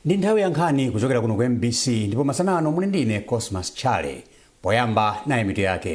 ndi nthawi ya nkhani kuchokera kuno ku mbc ndipo masana ano muli ndine cosmas chale poyamba nayi mitu yake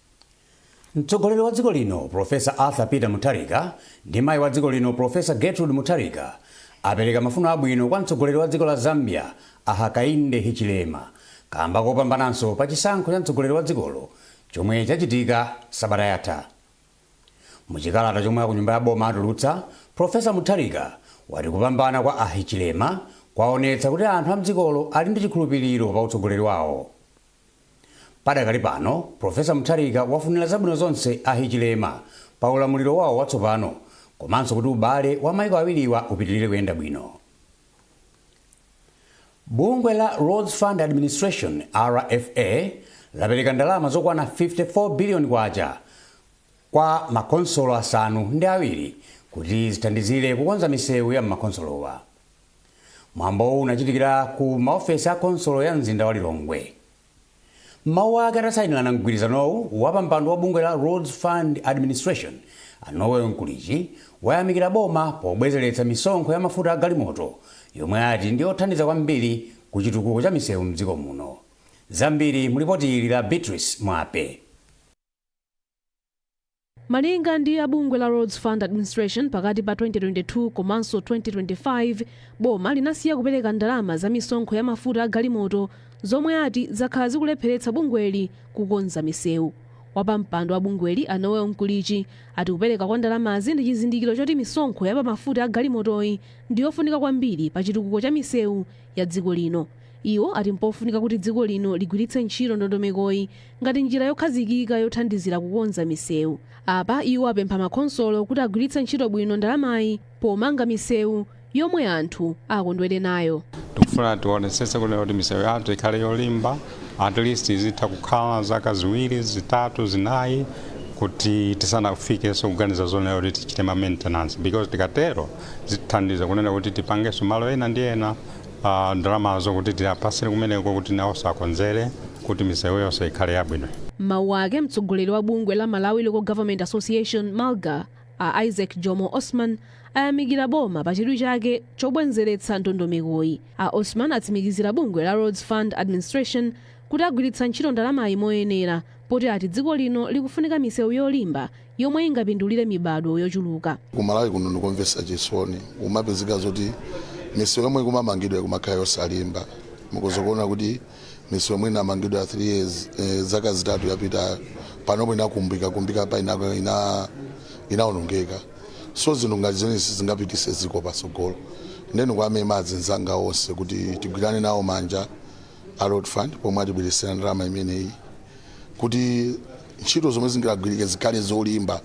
Mtsogoleri wa dziko lino Professor Arthur Peter Mutharika ndi mayi wa dziko lino Professor Gertrude Mutharika apereka mafuno abwino kwa mtsogoleri wa dziko la Zambia a Hakainde Hichilema kamba kopambananso pa chisankho cha mtsogoleri wa dzikolo chomwe chachitika sabata yatha. Mu chikalata chomwe akunyumba ya boma atulutsa, Professor Mutharika wati kupambana kwa a Hichilema kwaonetsa kuti anthu a mdzikolo ali ndi chikhulupiliro pa utsogoleri wawo. Padakali pano, Professor Mutharika wafunira zabwino zonse a Hichilema pa ulamuliro wawo watsopano komanso kuti ubale wa maiko awiriwa upitilire kuyenda bwino. Bungwe la Roads Fund Administration, RFA, lapereka ndalama zokwana 54 billion kwacha kwa makonsolo asanu ndi awiri kuti zithandizire kukonza misewu ya m'makonsolowa. mwambowu unachitikira ku maofesi a konsolo ya mzinda wa lilongwe m'mawu ake atasayinirana mgwirizanowu wapampando wa bungwe la roads fund administration a noel mkulichi wayamikira boma pobwezeretsa misonkho ya mafuta a galimoto yomwe ati ndi yothandiza kwambiri ku chitukuko cha misewu mdziko muno zambiri mulipoti ili la beatrice mwape Malinga ndi a bungwe la Roads Fund Administration, pakati pa 2022 komanso 2025, boma linasiya kupereka ndalama za misonkho ya mafuta a galimoto, zomwe ati zakhala zikulepheretsa bungweli kukonza misewu. Wapampando wa bungweli, a Noel Mkulichi, ati kupereka kwa ndalamazi ndi chizindikiro choti misonkho ya pa mafuta a galimotoyi ndi yofunika kwambiri pa chitukuko cha misewu ya dziko lino. Iwo ati mpofunika kuti dziko lino ligwiritse ntchito ndondomekoyi ngati njira yokhazikika yothandizira kukonza misewu. Apa iwo apempha makonsolo kuti agwiritse ntchito bwino ndalamayi pomanga misewu yomwe anthu akondwere nayo. Tikufuna tionetsetse kunena kuti misewu yathu ikhale yolimba at least izitha kukhala zaka ziwiri, zitatu, zinayi kuti tisanafikenso kuganiza zonena kuti tichite ma maintenance because tikatero zithandiza kunena kuti tipangenso malo ena ndi ena uh, ndalamazo kuti tiwapatsire kumeneko kuti nawo akonzere kuti misewu yonse ikhale yabwino m'mawu ake mtsogoleri wa bungwe la malawi local government association malga a isaac jomo osman ayamikira boma pa chidwi chake chobwenzeretsa ndondomekoyi a osman atsimikizira bungwe la roads fund administration kuti agwiritsa ntchito ndalamayi moyenera poti ati dziko lino likufunika misewu yolimba yomwe ingapindulire mibadwo yochuluka. Ku Malawi kuno ndi zomvetsa chisoni, kumapezeka zoti misewu yomwe ikumamangidwa ikumakhala yosalimba. Mukhoza kuona kuti misewu yomwe inamangidwa 3 years, eh, zaka zitatu yapitayo panopo inakumbika kumbika pa ina, ina, inaonongeka so zinthu ngati zimenezi sizingapititse dziko patsogolo nde ndikuwamema anzanga onse kuti tigwirane nawo manja a Road Fund pomwe atibweretsera ndalama imeneyi kuti ntchito zomwe zingagwirike zikhale zolimba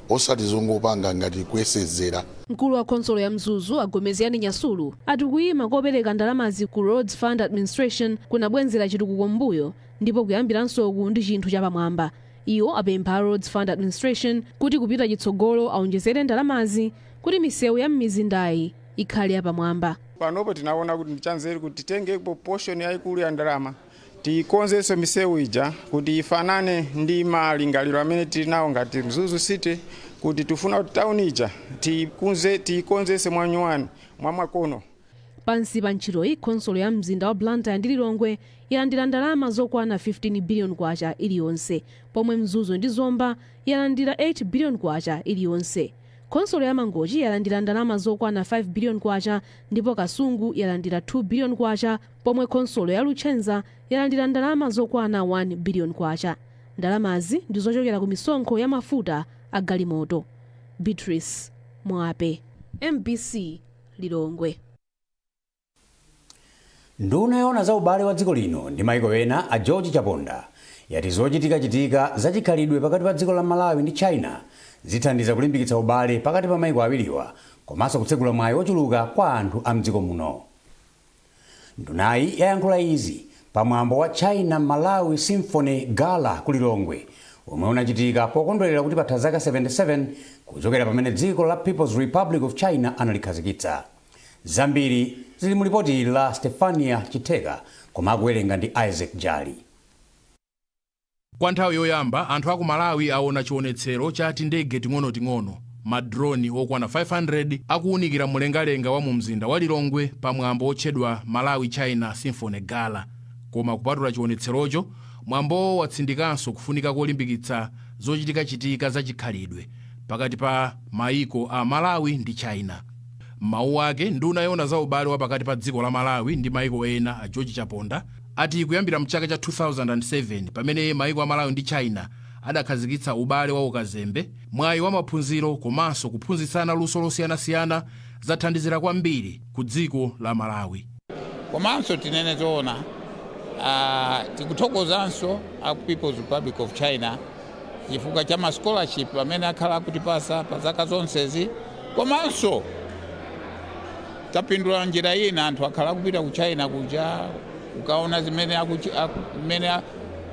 osati zongopanga ngati kuyesezera. Mkulu wa khonsolo ya Mzuzu a Gomezgani Nyasulu ati kuyima kopereka ndalamazi ku Roads Fund Administration kunabwezera chitukuko m'mbuyo ndipo kuyambiransoku ndi chinthu chapamwamba. Iwo apempha a Roads Fund Administration kuti kupita chitsogolo awonjezere ndalamazi kuti misewu ya m'mizindayi ikhale yapamwamba. Panopo tinawona kuti ndichanzeru kuti titengepo portion yayikulu ya ndalama. Tikonzetse misewu ija kuti ifanane ndi malingaliro amene tili nawo ngati Mzuzu City kuti tifuna kuti town ija tiikonzetse mwanyuwani, mwamakono. Pansi pa ntchitoyi, khonsolo ya mzinda wa Blantyre ndi Lilongwe yalandira ndalama zokwana K15 billion iliyonse pomwe Mzuzu ndi Zomba yalandira K8 billion iliyonse. Khonsolo ya Mangochi yalandira ndalama zokwana K5 billion ndipo Kasungu yalandira K2 billion. pomwe khonsolo ya Luchenza yalandira ndalama zokwana 1 biliyoni kwacha. Ndalamazi ndi zochokera ku misonkho ya mafuta a galimoto. Beatrice Mwape, MBC, Lilongwe. Nduna yoona za ubale wa dziko lino ndi maiko ena a George Chaponda yati zochitikachitika za chikhalidwe pakati pa dziko la Malawi ndi China zithandiza kulimbikitsa ubale pakati pa maiko awiriwa komanso kutsegula mwayi ochuluka kwa anthu a mdziko muno. Ndunayi yayankhula izi pa mwambo wa China Malawi Symphony Gala ku Lilongwe womwe unachitika pokondwelera kuti patha zaka 77 kuchokera pamene dziko la People's Republic of China analikhazikitsa. Zambiri zili mu lipoti la Stephania Chitheka koma akuwerenga ndi Isaac Jali. Kwa nthawi yoyamba, anthu a ku Malawi aona chionetsero cha tindege ting'onoting'ono, ma drone, okwana 500 akuunikira mlengalenga wa mumzinda wa Lilongwe pa mwambo wotchedwa Malawi-China Symphony Gala. Koma kupatula chionetserocho, mwambowo watsindikanso kufunika kolimbikitsa zochitikachitika za chikhalidwe pakati pa mayiko a Malawi ndi China. M'mawu ake, nduna yoona za ubale wa pakati pa dziko la Malawi ndi mayiko ena, a George Chaponda, ati kuyambira mchaka cha 2007 pamene maiko a Malawi ndi China adakhazikitsa ubale wa ukazembe, mwayi wa maphunziro komanso kuphunzitsana luso losiyanasiyana zathandizira kwambiri ku dziko la Malawi. Komanso tinene zoona, ah, tikuthokozanso a People's Republic of China chifukwa cha ma scholarship amene akhala akutipasa pa zaka zonsezi komanso Tapindula m'njira ina. Anthu akhala akupita ku China kuja kukaona zimene akuchi- aku- kumene a-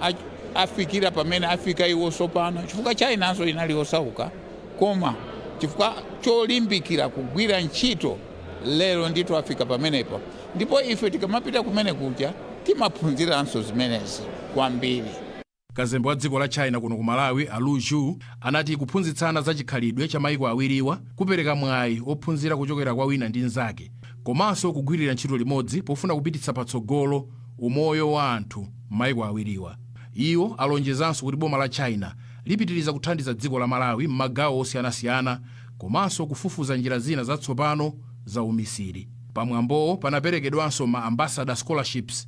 a- afikira pamene afika iwo tsopano chifukwa Chinanso inali yosauka koma chifukwa cholimbikira kugwira ntchito lero ndithu afika pamenepo ndipo ife tikamapita kumene kuja timaphunziranso zimenezi kwambiri Kazembe wa dziko la China kuno ku Malawi a Lu Xu ati kuphunzitsana za chikhalidwe cha maiko awiriwa kupereka mwayi ophunzira kuchokera kwa wina ndi nzake komanso kugwirira ntchito limodzi pofuna kupititsa patsogolo umoyo wa anthu mmaiko awiriwa. Iwo alonjezanso kuti boma la China lipitiriza kuthandiza dziko la Malawi mmagawo osiyanasiyana komanso kufufuza njira zina zatsopano za umisiri. Pa mwambowo panaperekedwanso ma Ambassador Scholarships.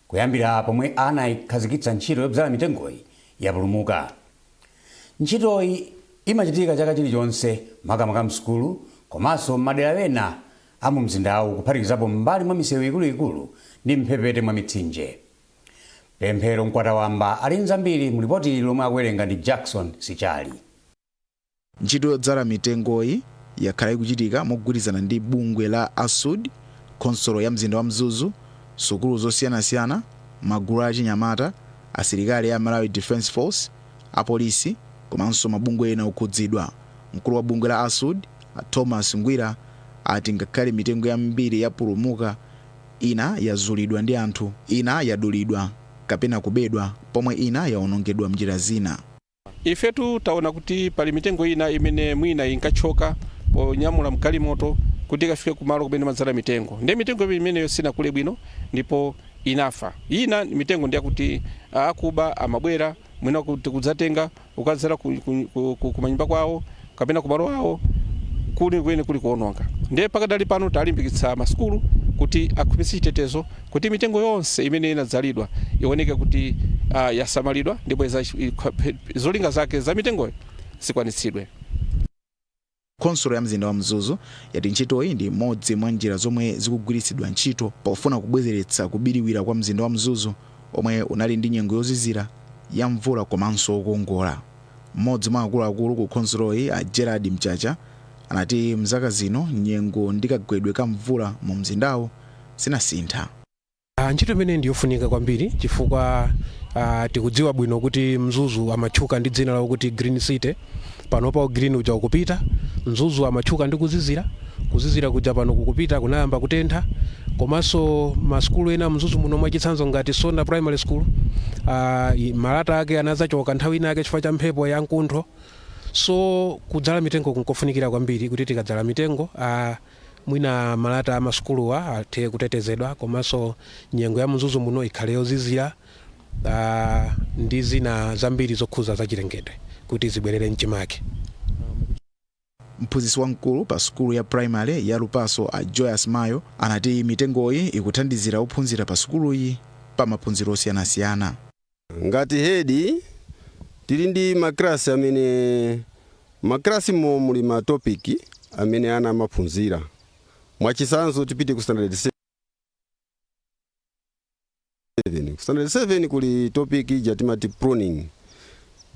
Kuyambira pomwe anaikhazikitsa ntchito yobzala mitengoyi yapulumuka. Ntchitoyi imachitika chaka chilichonse makamaka m'sukulu komanso m'madera ena a mumzindawu kuphatikizapo m'mbali mwa misewu ikuluikulu ndi m'mphepete mwa mitsinje. Pemphero Mkwatawamba ali n'zambiri mu lipoti lomwe akuwerenga ndi Jackson Sichali. Ntchito yodzala mitengoyi yakhala ikuchitika mogwirizana ndi bungwe la ASUD, khonsolo ya mzinda wa Mzuzu, sukulu zosiyanasiyana, magulu a achinyamata, asilikali a Malawi Defence Force, apolisi komanso mabungwe ena okhudzidwa. Mkulu wa bungwe la ASUD, Thomas Ngwira, ati ngakhale mitengo yambiri yapulumuka, ina yazulidwa ndi anthu, ina yadulidwa kapena kubedwa pomwe ina yaonongedwa m'njira zina. Ifetu taona kuti pali mitengo ina imene mwina inkathyoka ponyamula mgalimoto kuti ikafike kumalo kumene timadzala mitengo ndiye mitengo imeneyo sinakule bwino ndipo inafa. Ina mitengo ndi yakuti akuba amabwera mwina kuti kudzatenga kukadzala kumanyumba kwawo. kapena kumalo awo kuli kweni kuli kuononga ndiye pakadali pano talimbikitsa masukulu kuti akhwimitse chitetezo kuti mitengo yonse imene inadzalidwa ioneke kuti uh, yasamalidwa ndipo zolinga zake za mitengoyo zikwanitsidwe khonsolo ya mzinda wa mzuzu yati ntchitoyi ndi imodzi mwa njira zomwe zikugwiritsidwa ntchito pofuna kubwezeretsa kubiriwira kwa mzinda wa mzuzu omwe unali ndi nyengo yozizira ya mvula komanso okongola M'modzi mwa akuluakulu ku khonsoloyi a Gerald Mchacha anati mzaka zino nyengo ndi kagwedwe ka mvula mu mzindawu zinasintha. Ntchito imeneyi ndi yofunika kwambiri chifukwa tikudziwa bwino kuti Mzuzu amatchuka ndi dzina lakuti Green City, panopa u green uja ukupita, Mzuzu amatchuka ndi kuzizira, Kuzizira kuja pano kukupita, kunayamba kutentha komanso ma sukulu ena Mzuzu muno mwachitsanzo ngati Sonda primary school uh, malata ake anadzachoka nthawi ina yake chifukwa cha mphepo ya nkuntho so kudzala mitengo kunkofunikira kwambiri kuti tikadzala mitengo uh, mwina malata a masukuluwa athe kutetezedwa komanso nyengo ya Mzuzu muno ikhale yozizira uh, ndi zina zambiri zokhuza zachilengedwe kuti zibwerere mchimake Mphunzitsi wamkulu pa sukulu ya primary ya Lupaso a Joyous Mayo anati mitengoyi ikuthandizira ophunzira pa sukuluyi pa maphunziro osiyanasiyana. Ngati head tili ndi ma class amene ma class mo muli ma topic amene ana amaphunzira mwachitsanzo tipite ku standard 7. 7 ku standard 7 kuli topic ija timati pruning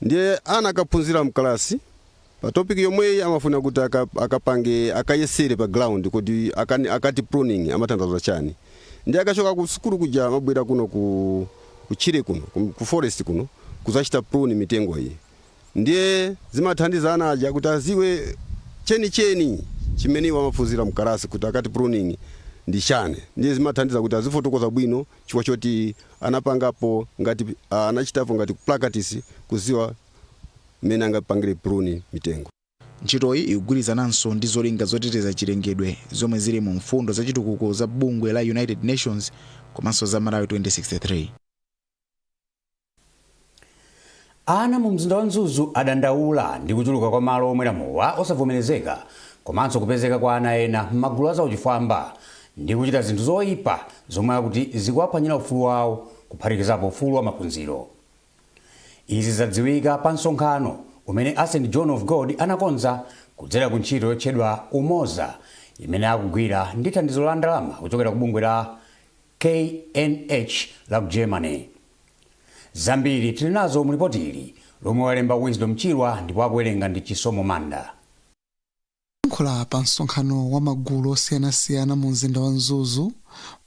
ndiye ana akaphunzira mkalasi pa topic yomweyi amafuna kuti aka- akapange akayesere pa ground kuti akani- akati pruning amatanthauza chani ndiye akachoka ku sukulu kuja amabwera kuno kutchire kuno ku- ku forest kuno kuzachita prune mitengo iyi ndiye zimathandiza ana aja kuti aziwe chenicheni chimene iwo amaphunzira mkalasi kuti akati pruning ndi chani ndiye zimathandiza kuti azifotokoza bwino chifukwa choti anapangapo ngati ah, anachitapo ngati kuplakatisi kuziwa mmene angapangire prune mitengo Ntchitoyi ikugwirizananso ndi zolinga zoteteza chilengedwe zomwe zili mu mfundo za chitukuko za bungwe la United Nations komanso za Malawi 2063. Ana mu mzinda wa Mzuzu adandaula ndi kuchuluka kwa malo omwera mowa osavomerezeka komanso kupezeka kwa ana ena m'magulu a zauchifwamba ndi kuchita zinthu zoipa zomwe akuti zikuwaphwanyira ufulu wawo kuphatikizapo ufulu wa maphunziro. Izi zadziwika pa msonkhano umene a St John of God anakonza kudzera ku ntchito yotchedwa Umoza imene akugwira ndi thandizo la ndalama kuchokera ku bungwe la KNH la ku Germany. Zambiri tili nazo mu lipoti ili lomwe walemba Wisdom Chirwa ndipo akuwerenga ndi Chisomo Manda. Poyankhula pa msonkhano wa magulu osiyanasiyana mu mzinda wa Mzuzu,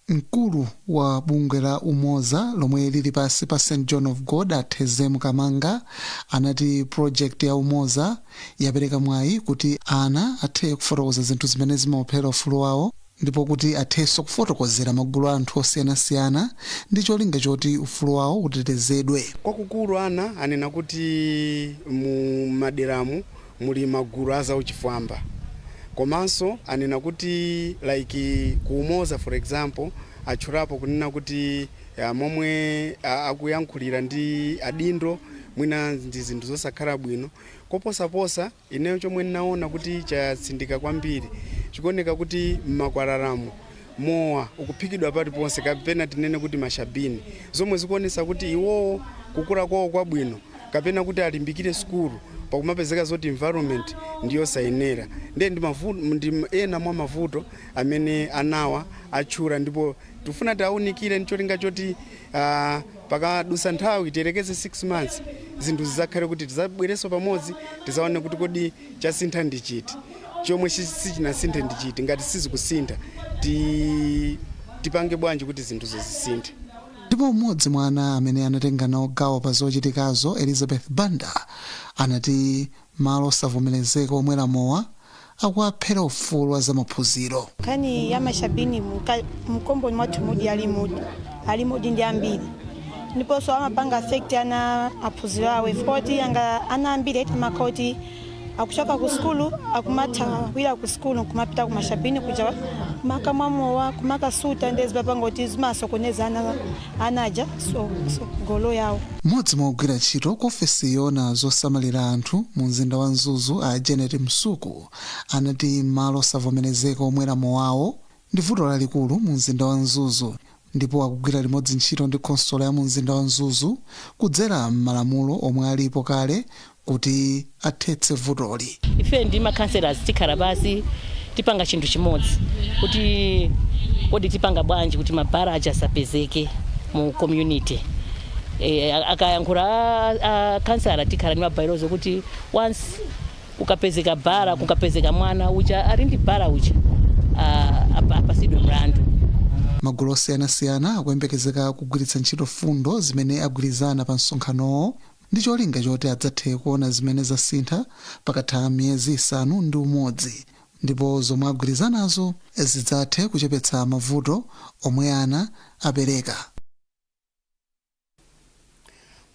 mkulu wa bungwe la Umoza lomwe lili pansi pa St John of God a Thezemu Kamanga anati project ya Umoza yapereka mwayi kuti ana athe kufotokoza zinthu zimene zimawaphera ufulu wawo ndipo kuti athenso kufotokozera magulu a anthu osiyanasiyana ndi cholinga choti ufulu wawo utetezedwe. Kwakukulu ana anena kuti mu maderamu muli magulu a zauchifwamba komanso anena kuti like ku Umoza for example atchulapo kunena kuti momwe akuyankhulira ndi adindo mwina ndi zinthu zosakhala bwino koposaposa. Ineyo chomwe ndinaona kuti chatsindika kwambiri, chikuoneka kuti m'makwalalamu mowa ukuphikidwa paliponse kapena tinene kuti mashabini, zomwe zikuonetsa kuti iwowo kukula kwawo kwabwino kapena kuti alimbikire sukulu pakumapezeka zoti environment ndi yosayenera ndiye ndi ena mwa mavuto amene anawa atchula ndipo tikufuna tiwaunikire ncholinga choti aah, Pakadutsa nthawi, tiyerekeze 6 months, zinthu zidzakhale kuti tidzabwerenso pamodzi tidzaone kuti kodi chasintha ndi chiti, chomwe sichinasinthe ndi chiti, ngati sizikusintha tipange bwanji kuti zinthuzo zisinthe. Ndipo mmodzi mwa ana amene anatenga nawo gawo pa zochitikazo, Elizabeth Banda, anati Malo osavomerezeka omwera mowa akuwaphera ufulu wa zamaphunziro. Nkhani ya mashabini m'komboni mwathumudi alimodi alimodi ndi ambiri ndiponso amapanga affect ana maphunziro awo chifukwa choti anga ana ambiri eti amakhala kuti akuchoka ku sukulu akumathawira ku sukulu nkumapita ku mashabini kuja kumakamwa mowa kumakasuta ndiye zimapanga kuti zimasokoneza ana ana aja tsogolo lawo Mmodzi mwa ogwira ntchito ku ofesi yoona zosamalira anthu mu mzinda wa Mzuzu a Janet Msuku anati malo osavomerezeka omwera mowawo ndi vuto lalikulu mu mzinda wa Mzuzu ndipo akugwira limodzi ntchito ndi khonsolo ya mu mzinda wa Mzuzu kudzera m'malamulo omwe alipo kale kuti athetse vutoli. Ife ndi ma councillors tikhala pansi tipanga chinthu chimodzi kuti kodi tipanga bwanji kuti ma bar aja asapezeke mu community. Akayankhula a councillor tikhala ndi ma bylaws kuti once kukapezeka bara kukapezeka mwana uja ali ndi bara uja apatsidwe mlandu. Magulu osiyanasiyana akuyembekezeka kugwiritsa ntchito mfundo zimene agwirizana pa msonkhanowo ndi cholinga choti adzathe kuona zimene zasintha pakatha miyezi isanu ndi umodzi ndipo zomwe agwirizanazo zidzathe kuchepetsa mavuto omwe ana apereka.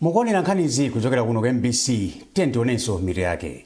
Mukuonera nkhanizi kuchokera kuno ku mbc, tiyeni tionenso mitu yake.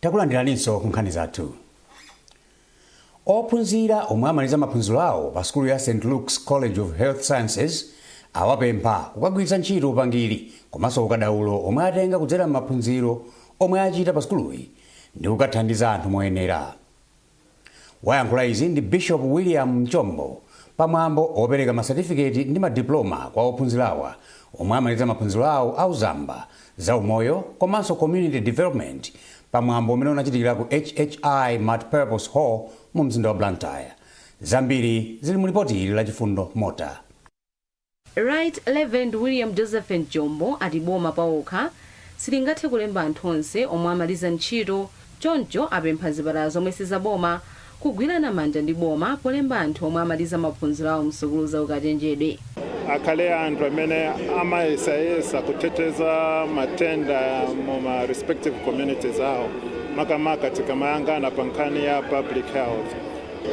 Takulandiraninso ku nkhani zathu. Ophunzira omwe amaliza maphunziro awo pa sukulu ya St Luke's College of Health Sciences awapempha kukagwiritsa ntchito upangiri komanso ukadaulo omwe atenga kudzera m'maphunziro omwe achita pa sukuluyi ndi kukathandiza anthu moyenera. Wayankhula izi ndi Bishop William Mchombo pa mwambo opereka ma certificate ndi ma diploma kwa ophunzirawa omwe amaliza maphunziro awo a uzamba, za umoyo komanso community development pa mwambo umene unachitikira ku HHI multipurpose hall mu mzinda wa Blantyre. Zambiri zili mu lipoti ili la Chifundo Mota. Right Reverend William Joseph Mchombo ati boma paokha silingathe kulemba anthu onse omwe amaliza ntchito choncho apempha zipatala zomwe si zaboma kugwirana manja ndi boma polemba anthu omwe amaliza maphunziro awo msukulu za ukachenjede. Akhale anthu amene amayesayesa kuthetheza matenda mu ma respective communities awo makamaka tikamayangana pa nkhani ya public health.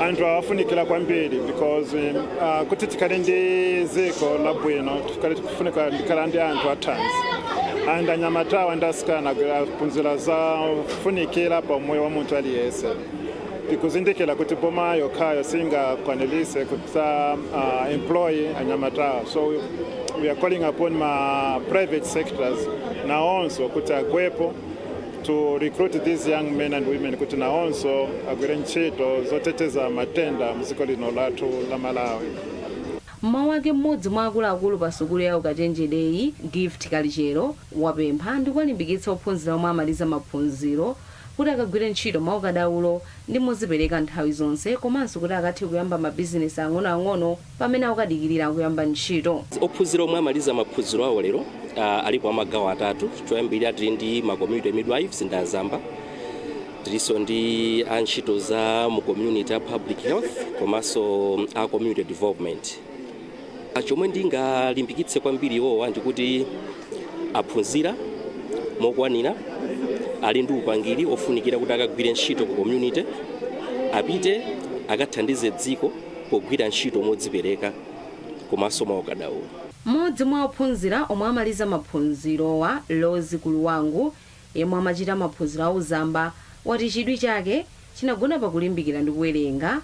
anthu awa afunikira kwambiri because uh, kuti tikhale ndi dziko labwino tikhale tikufunika kukhala ndi anthu athanzi and anyamatawa ndi asikana aphunzira zofunikira pa umoyo wa munthu aliyense tikuzindikira kuti boma yokhayo singakwanilise kuti a- uh, employ anyamatawa so we are calling upon ma private sectors naonso kuti agwepo to recruit these young men and women kuti nawonso agwire ntchito zoteteza matenda mdziko lino lathu la malawi M'mawu ake m'modzi mwa akuluakulu pa sukulu ya ukachenjedeyi, Gift Kalichero, wapempha ndikuwalimbikitsa ophunzira omwe amaliza maphunziro kuti akagwire ntchito mwaukadaulo ndi modzipereka nthawi zonse komanso kuti akathe kuyamba ma bizinesi ang'onoang'ono pamene akudikirira kuyamba ntchito. Ophunzira omwe amaliza maphunziro awo lero alipo amagawo atatu. Choyambirira tili ndi ma community midwives ndi azamba, tilinso ndi a ntchito za mu community a public health komanso a community development. chomwe ndingalimbikitse kwambiri iwowa ndikuti aphunzira mokwanira ali ndi upangiri ofunikira kuti akagwire ntchito ku community apite akathandize dziko pogwira ntchito modzipereka komanso mwaukadaulo Mmodzi mwa ophunzira omwe amaliza maphunzirowa, Rose Kuluwangu, yemwe amachita maphunziro a uzamba, wati chidwi chake chinagona pa kulimbikira ndi kuwerenga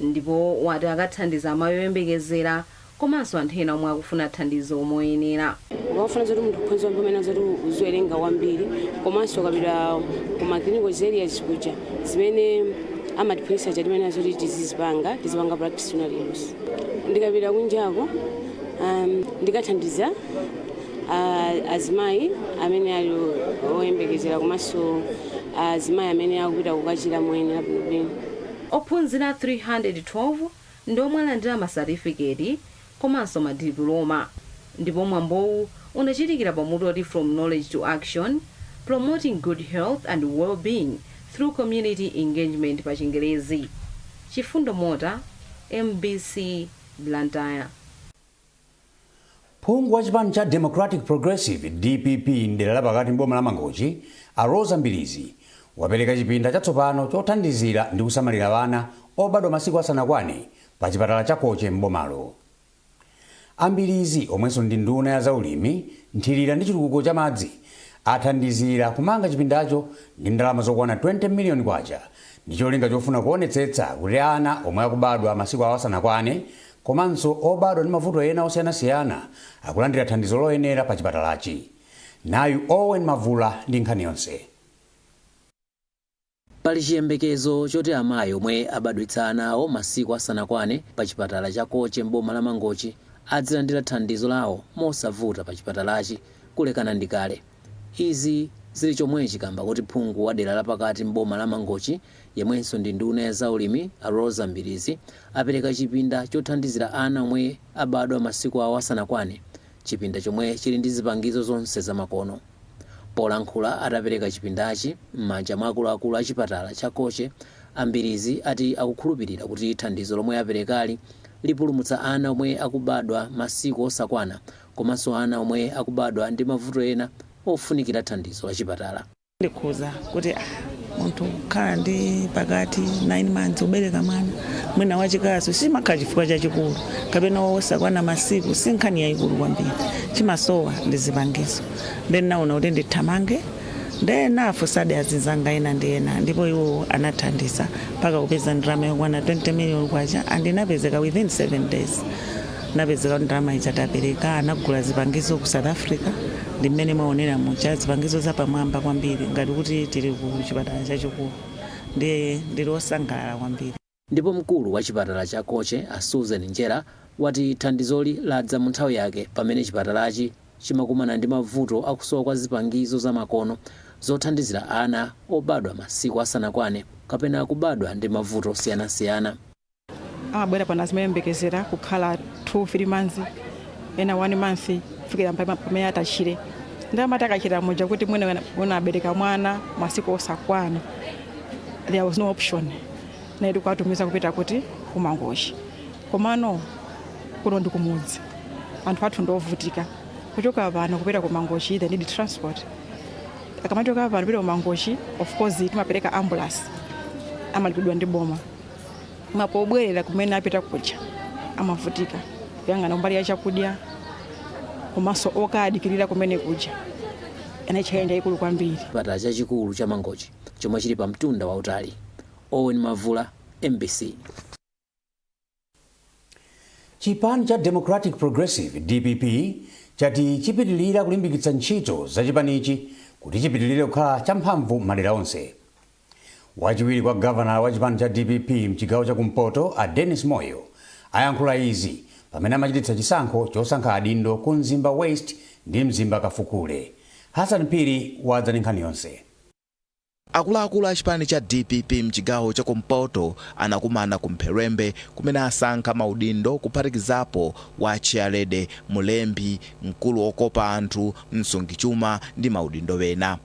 ndipo wati akathandiza amayi oyembekezera komanso anthu ena omwe akufuna thandizo moyenera. Ukamafuna zoti munthu ukhonza kumva umayenera zoti uziwerenga kwambiri komanso ukapita ku ma clinicals areas kuja zimene amatiphunzitsa zija timayenera zoti tizizipanga, tizipanga practice when at use. Ndikapita kunjako ndikathandiza. azimayi amene ali oyembekezera komanso azimayi amene akupita kukachira moyenera bwinobwino ophunzira 312 ndi omwe alandira masatifiketi komanso madipuloma ndipo mwambowu unachitikira pamutu oti from knowledge to action promoting good health and well-being through community engagement pa chingerezi chifundo mota mbc blantyre Phungu wa chipani cha Democratic Progressive, dpp, m'dera la pakati m'boma la Mangochi, a Roza Mbilizi, wapereka chipinda chatsopano chothandizira ndi kusamalira ana obadwa masiku asanakwane pa chipatala cha Koche m'bomalo. A Mbilizi, omwenso ndi nduna ya za ulimi, nthilira ndi chitukuko cha madzi, athandizira kumanga chipindacho ndi ndalama zokwana 20 million kwacha ndi cholinga chofuna kuonetsetsa kuti ana omwe akubadwa masiku awo asanakwane komanso obadwa ndi mavuto ena osiyanasiyana akulandira thandizo loyenera pa chipatalachi. Nayu Owen Mavula ndi nkhani yonse. Pali chiyembekezo choti amayi omwe abadwitsa ana awo masiku asanakwane pa chipatala cha Koche m'boma la Mangochi adzilandira thandizo lawo mosavuta pa chipatalachi kulekana ndi kale. Izi zili chomwechi kamba koti phungu wa dera lapakati m'boma la Mangochi, yemwenso ndi nduna ya zaulimi a Roza Mbilizi apereka chipinda chothandizira ana omwe abadwa masiku awo asanakwane, chipinda chomwe chili ndi zipangizo zonse zamakono. Polankhula atapereka chipindachi m'manja mwa akuluakulu a chipatala cha Koche, a Mbilizi ati akukhulupilira kuti thandizo lomwe aperekali lipulumutsa ana omwe akubadwa masiku osakwana komanso ana omwe akubadwa ndi mavuto ena ofunikira thandizo la chipatala. Ndikhuza kuti ah, munthu kukhala ndi pakati 9 months kubereka mwana mwina wachikazi sichimakhala chifukwa chachikulu kapena wosakwana masiku si nkhani yayikulu kwambiri chimasowa ndi zipangizo nde ndinaona kuti ndithamange nde ndinafunsadi azinzanga ena ndi ena ndipo iwo anathandiza mpaka kupeza ndalama yokwana 20 million kwacha and inapezeka within 7 days napezeka kuti ndalama ija tapereka anagula zipangizo ku south africa ndi mmene mwaonera muja zipangizo zapamwamba kwambiri ngati kuti tili ku chipatala chachikulu ndiye ndili osangalala kwambiri Ndipo mkulu wa chipatala cha Koche a Susan Njera wati thandizoli ladza mu nthawi yake pamene chipatalachi chimakumana ndi mavuto akusowa kwa zipangizo za makono zothandizira ana obadwa masiku asanakwane kapena kubadwa ndi mavuto osiyanasiyana. amabwera pano azimayembekezera kukhala 2 3 months ena 1 month kufikira mpaka pamene atachire ndiye amati akachira muja kuti mwina mwina abereka mwana masiku osakwana there was no option inali kuwatumiza kupita kuti kumangochi komano kuno ndi kumudzi anthu athu ndiovutika kuchoka pano kupita kumangochi they need transport akamachoka pano kupita kumangochi of course timapereka ambulance amalipidwa ndi boma koma pobwerera kumene apita kuja amavutika kuyang'ana kumbali ya chakudya komanso okadikirira kumene kuja inali challenge yayikulu kwambiri chipatala chachikulu cha mangochi chomwe chili pa mtunda wautali owen mavula mbc chipani cha democratic progressive dpp chati chipitilira kulimbikitsa ntchito za chipanichi kuti chipitilire kukhala champhamvu mmadera onse Wachiwiri kwa gavanala wa chipani cha dpp mchigawo cha ku mpoto a Dennis Moyo ayankhula izi pamene amachititsa chisankho chosankha adindo ku Mzimba West ndi Mzimba Kafukule. Hassan Phiri wadza ndi nkhani yonse. Akuluakulu a chipani cha dpp mchigawo cha ku mpoto anakumana ku Mpherembe kumene asankha ma udindo kuphatikizapo wa Chairlady, Mlembi, Mkulu okopa anthu, Msungichuma ndi ma udindo ena.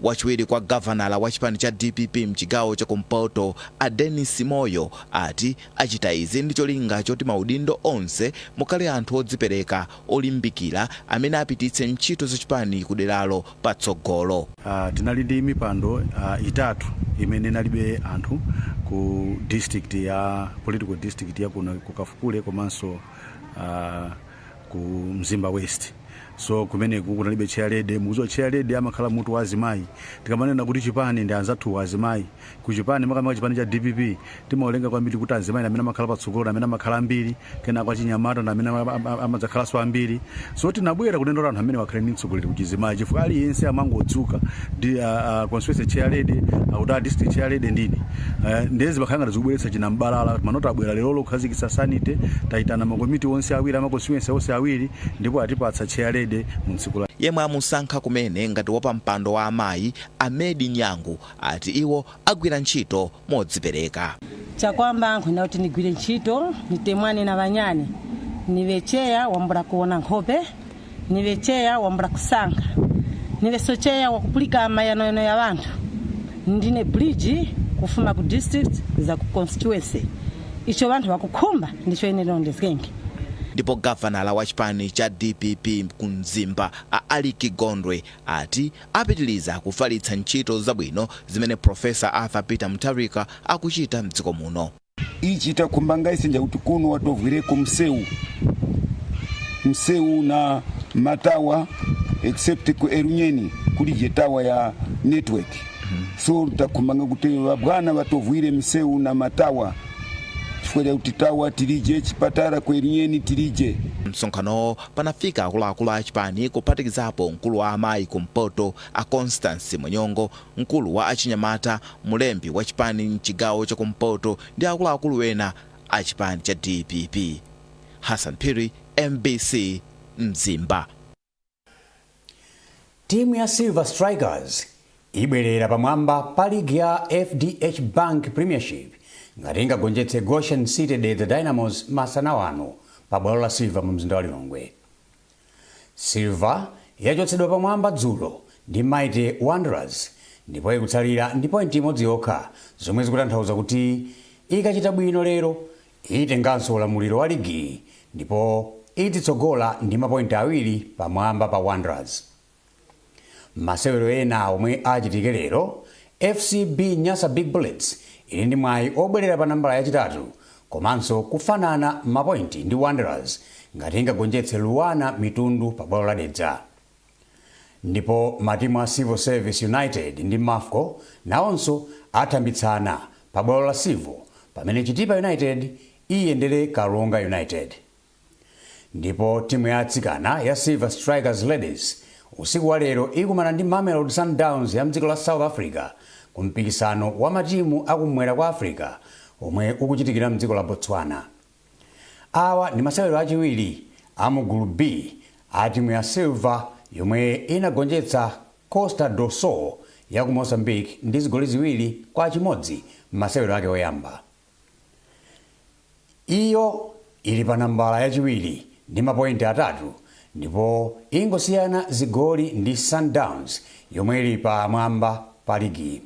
Wachiwiri kwa gavanala wa chipani cha dpp mchigawo cha kumpoto a Dennis Moyo ati achita izi ndi cholinga choti maudindo onse mukhale anthu odzipereka, olimbikira amene apititse ntchito za chipani ku deralo patsogolo. Tinali ndi mipando itatu imene inalibe anthu ku district ya, political district ya kuno ku Kafukule komanso. ku mzimba west so kumeneku kunalibe chairlady mukuziwa chairlady amakhala mutu wa azimayi tikamanena kuti chipani ndi anzathu wa azimayi ku chipani makamaka chipani cha dpp timaolenga kwambiri kuti azimayi ndi amene amakhala patsogolo ndi amene amakhala ambiri kenako achinyamata ndi amene ama- ama- amadzakhalanso ambiri so tinabwera kunena kuti anthu amenewa akhale ndi mtsogoleri ku chizimayi chifukwa aliyense amangodzuka ndi a constituency chair lady akuti a district chair lady ndini uh, nde zimakhala ngati zikubweretsa chinambalala mano tabwera lero kukhazikitsa sanity tayitana makomiti onse awiri ama constituency onse awiri ndipo atipatsa chair lady mu tsiku la yemwe amusankha kumene ngati wapampando wa amayi amedi nyangu ati iwo agwira ntchito modzipereka. Chakwamba nkhukhumba kuti nigwire ntchito, nitemwane na banyani, nibe cheya wambula kuona nkhope, nibe cheya wambula kusankha, nibeso cheya wakupulika mayanoyano ya banthu, ndine bridge kufuma ku district kuza ku constituency. Icho banthu bakukhumba ndicho ine nirondezgenge. Ndipo gavanala wa chipani cha dpp ku Mzimba a Alick Gondwe ati Apitiliza kufalitsa ntchito zabwino zimene Prof. Arthur Peter Mutharika akuchita mdziko muno. Ichi takhumba ngai senja kuti kuno watovwireko mseu mseu na matawa except ku Elunyeni kuli je tawa ya network so takhumba nga kuti vabwana vatovwire mseu na matawa chifukwa chakuti tawa tilije chipatara ku Elunyeni tilije. Msonkhanowo panafika akuluakulu a chipani kuphatikizapo mkulu wa amayi ku mpoto a Constance Munyongo, mkulu wa achinyamata, mlembi wa chipani mchigawo cha kumpoto ndi akuluakulu ena a chipani cha dpp. Hassan Phiri, mbc, Mzimba. Timu ya Silver Strikers ibwerera pamwamba pa ligi ya FDH Bank Premiership ngati ingagonjetse Goshen City Dedza Dynamos masana wano pa bwalo la Silver mu mzinda wa Lilongwe. Silver yachotsedwa pamwamba dzulo ndi Mighty Wanderers ndipo ikutsalira ndi pointi imodzi yokha zomwe zikutanthauza kuti ikachita bwino lero Itenganso ulamuliro wa ligiyi ndipo ititsogola ndi mapointi awiri pamwamba pa Wanderers. Mmasewero ena omwe achitike lero, FCB Nyasa Big Bullets ili ndi mwayi obwelera pa nambala yachitatu komanso kufanana mapointi ndi Wanderers ngati ingagonjetse Luanar Mitundu pa bwalo la Dedza. Ndipo matimu a Civil Service United ndi Mafco nawonso athambitsana pa bwalo la Civo pamene Chitipa United iyendere Karonga United. Ndipo timu ya atsikana ya Silver Strikers Ladies usiku wa lero ikumana ndi Mamelodi Sundowns ya mdziko la South Africa ku mpikisano wa matimu a kummwera kwa Africa omwe ukuchitikira mdziko la Botswana. Awa ndi masewero achiwiri amu gulu B atimu ya Silver yomwe inagonjetsa Costa do Sol yaku Mozambique ndi zigoli ziwiri kwa chimodzi mmasewero ake oyamba. Iyo ili pa nambala yachiwiri ndi mapointi atatu ndipo ingosiyana zigoli ndi Sundowns yomwe ili pa mwamba pa ligi.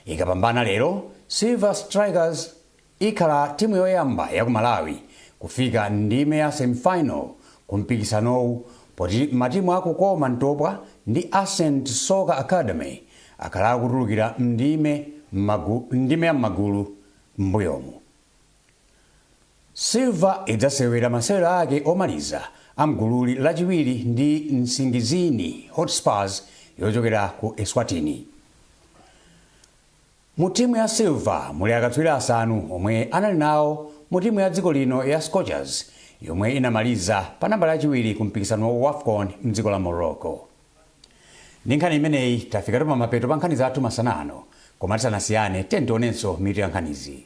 Ikapambana lero, Silver Strikers. Ikhala timu yoyamba yaku Malawi kufika m'ndime ya semifinal ku mpikisanowu poti matimu a Kukoma Ntopwa ndi Ascent Soccer Academy akhala akutulukira m'ndime ya m'magulu m'mbuyomu. Silver idzasewera masewero ake omaliza a m'gululi lachiwiri ndi Nsingizini Hotspurs yochokera ku Eswatini. Mu timu ya Silver muli akatswiri asanu omwe anali nawo mu timu ya dziko lino ya Scorchers yomwe inamaliza pa nambala yachiwiri ku mpikisano wa Wafcon mdziko la Morocco. Ndi nkhani imeneyi tafikatu pamapeto pa nkhani zathu masana ano koma tisanasiyane tiyeni tionenso mitu ya nkhanizi.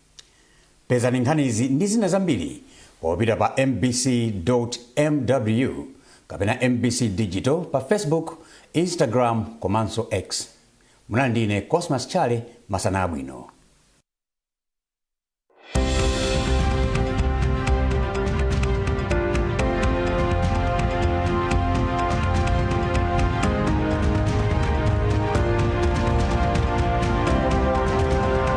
Pezani nkhanizi ndi zina zambiri popita pa mbc.mw kapena mbc digital pa Facebook, Instagram komanso X. Munali ndi ine Cosmas Chale, masana abwino.